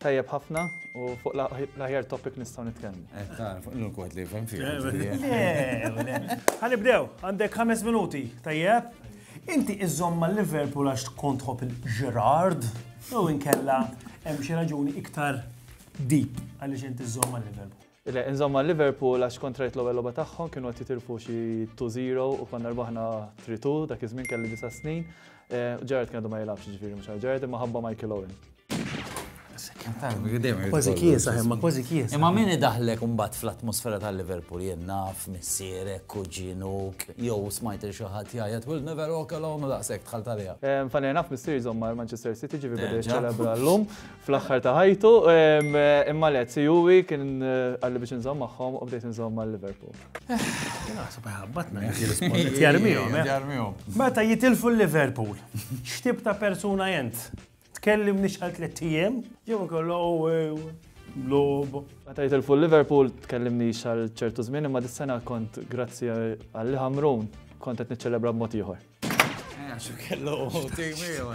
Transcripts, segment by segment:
Tajjeb ħafna u fuq l-aħjar topic nistgħu nitkellmu. Eh, ta' fuq l wħed li jifhem fih. Ħanibdew, għandek ħames minuti, tajjeb? Inti iżżomm ma' Liverpool għax tkun tħobb il-Gerard, jew inkella hemm xi raġuni iktar deep għaliex inti iżżomm ma' Liverpool. Le, insomma Liverpool għax kont rajt l-ewwel logħba tagħhom kienu qed jitilfu xi 2-0 u konna rbaħna 3-2 dak iż-żmien kelli disa' snin. Gerrard kien għadu ma jilgħabx ġifieri mhux għal Gerrard imma ħabba Michael Owen. Kważi kiesa, imma kważi kiesa. Imma min idaħħlek imbagħad fl-atmosfera ta' Liverpool jien naf missierek, kuġinuk, jew smajt lil xi ħadd jgħajjat we'll never walk alone u daqshekk dħalt għaliha. Funny enough missieri żomm mal-Manchester City ġifieri beda jiċċelebra llum fl-aħħar ta' ħajtu, imma le, Juwi kien għalli biex nżomm magħhom u bdejt nżomm mal Liverpool. Naħseb ħabbatna Meta jitilfu l-Liverpool, x'tib ta' persuna jent? Tkellim nix għal tliet ijiem, jew kollu lob. Meta jitilfu l-Liverpool, tkellim nix għal ċertu żmien, imma dis-sena kont grazzi għalli ħamrun kont qed niċċelebra b'mod ieħor. Għaxu kellu u timi u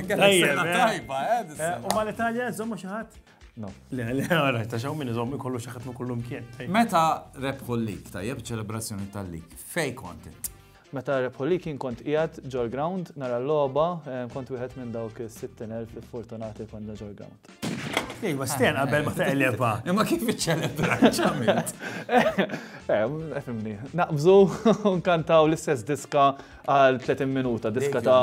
tajba, eh? U ma l-Italja zommu xaħat? No. Le, le, għara, ta' xaw minn iżom kollu xaħat ma kollu mkien. Meta rebħu l-lik, tajjeb ċelebrazzjoni tal-lik, fej kontent? Meta rebħu l-lik kien kont ijat ġol ground, nara l-loba, eh, kont wieħed minn dawk 60.000 fortunati konna ġol ground. Iva, sten qabel ma teqleba. Imma kif iċċelebra ċament? Efimni, naqbżu nkantaw l-istess diska għal 30 minuta, diska ta'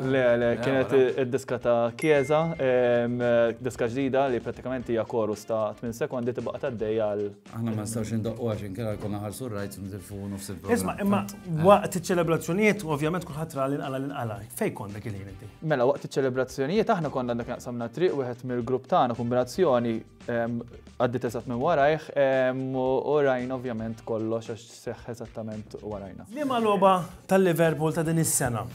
le, le, kienet id-diska ta' Kieza, diska ġdida li pratikament hija korus ta' 8 sekondi tibqa' tgħaddej għal Aħna ma nistgħux indoqqu għax inkella jkollna ħarsu r-rajt u nitilfuhu nofs il-programm. Isma' imma waqt iċ-ċelebrazzjonijiet ovvjament kulħadd ra l-inqala l-inqala. Fejn kont dak il-ħin inti? Mela waqt iċ-ċelebrazzjonijiet aħna konna dak naqsamna triq wieħed mill-grupp tagħna kombinazzjoni għaddiet eżatt minn warajh u rajna ovvjament kollox għax seħħ eżattament warajna. Liema logħba tal-Liverpool ta' din is-sena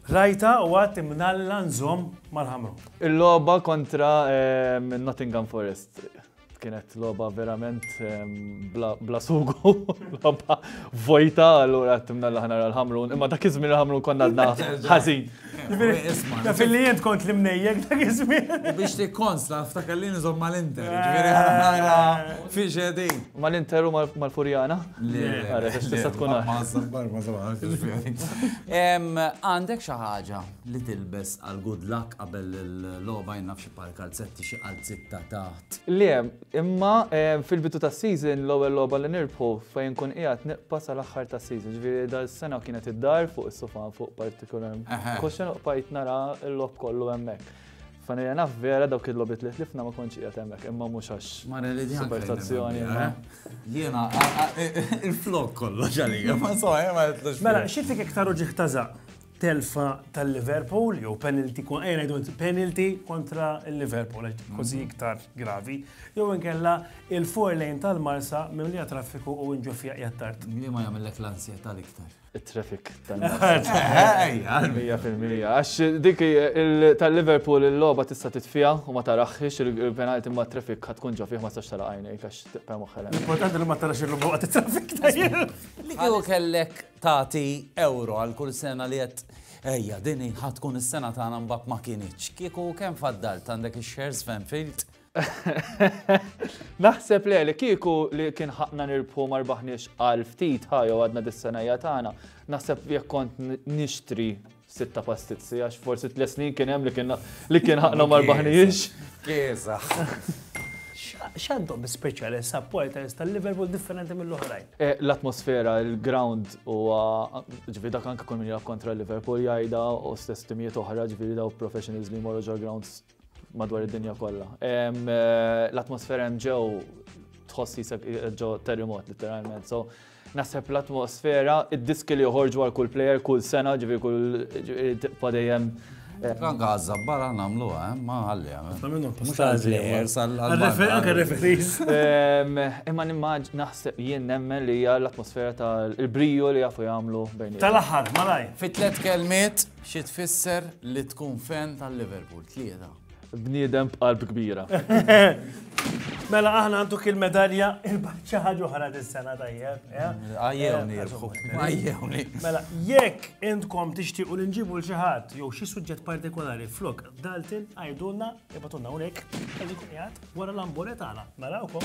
Rajta u għat imnalla nżom mal-ħamru. Il-loba kontra Nottingham Forest. Kienet loba verament bla sugu, loba vojta, allura timna l ħana l-ħamrun, imma dak iż l-ħamrun konna għadna ħażin. Taf li jent kont li mnejjek dak iż U biex li konsta, ftakar li nizom mal-inter, ġviri ħara, fi ġedin. Mal-inter u mal-furjana? Le, għara, tista tkun Għandek xaħġa li tilbes għal good luck qabel l-loba jnafx Bħal kalzetti xi qalziet ta' taħt. Le, imma fil-bidu tas-season l-ewwel logħba li nirbħu fejn nkun qiegħed nibqa' sal-aħħar tas-season. Ġifieri dal-sena kienet id-dar fuq is-sufa fuq partikolari. Koxxa noqbajt nara l-logħob kollu hemmhekk. Fanija naf vera dawk il-logħbiet li tlifna ma kontx qiegħed hemmhekk, imma mhux għax. Mara li djan. Supertazzjoni. Jiena il-flok kollox għalija, ma so, ma jitlux. Mela, xi fik iktar uġieħ ta' żaq? telfa tal-Liverpool, jew penalty, ejja ngħidu penalty kontra l-Liverpool, kważi mhm. iktar gravi, jew inkella il-four lane tal-Marsa mimlija traffiku u nġu fija jattart. Li ma jagħmellek l-ansjetà l-iktar. Il-traffic tal-Marsa. Mija fil-mija. Għax dik tal-Liverpool il-logħba tista' titfija u ma taraħħix il-penalty ma traffic ħad tkun ġo fih ma sax tara għajnejk għax tiqpa moħħelek. L-importanti li ma tarax il-logħba t-traffic tajjeb. Li kellek Tagħti ewro għal kull sena li għedt ejja din hi ħa tkun is-sena tagħna mbagħad ma kinitx. Kieku kemm faddalt għandek ix-shares f'Enfield? Naħseb le li kieku li kien ħaqna nirbħu ma rbaħniex għal ftit ħa jew għadna dis-senajja tagħna, naħseb jekk kont nixtri Sitta pastizzi, għax forsi tliet snin kien hemm li kien li kien ħaqna ma rbaħniex. Kiesa. X'għandhom speċjali supporters tal-Liverpool differenti mill-oħrajn? Eh, l-atmosfera, il-ground u ġifieri dak anke kull min jilgħab kontra Liverpool jgħidha u stess timijiet oħra ġifieri daw professionals li jmorru ġol grounds madwar id-dinja kollha. Eh, l-atmosfera hemm ġew tħoss jisek ġo terremot literalment. So, naħseb l-atmosfera, id-diski li joħorġu għal kull player, kull sena, ġivi kull tibqa dejjem. Kan għazza barra namlu, eh, ma għalli għamil. Eh. Għamilu postazi. Imma nimmaġ naħseb jien nemmen li hija l-atmosfera tal-briju li jafu jagħmlu bejn. Tal-aħħar, malaj. Fit-tlet kelmiet, Xi tfisser li tkun fan ta' Liverpool? Tlieta. Bniedem b'qalb kbira. Mela aħna għanduk il-medalja il-baħt xi ħaġa oħra dis-sena tajjeb. Għajjewni jirbħu. Għajjewni. Mela, jekk intkom tixtiequ li nġibu l xi ħadd jew xi suġġett partikolari flok Dalton għajdulna ibatulna hawnhekk qed ikun qiegħed wara l-ambure tagħna. Narawkom.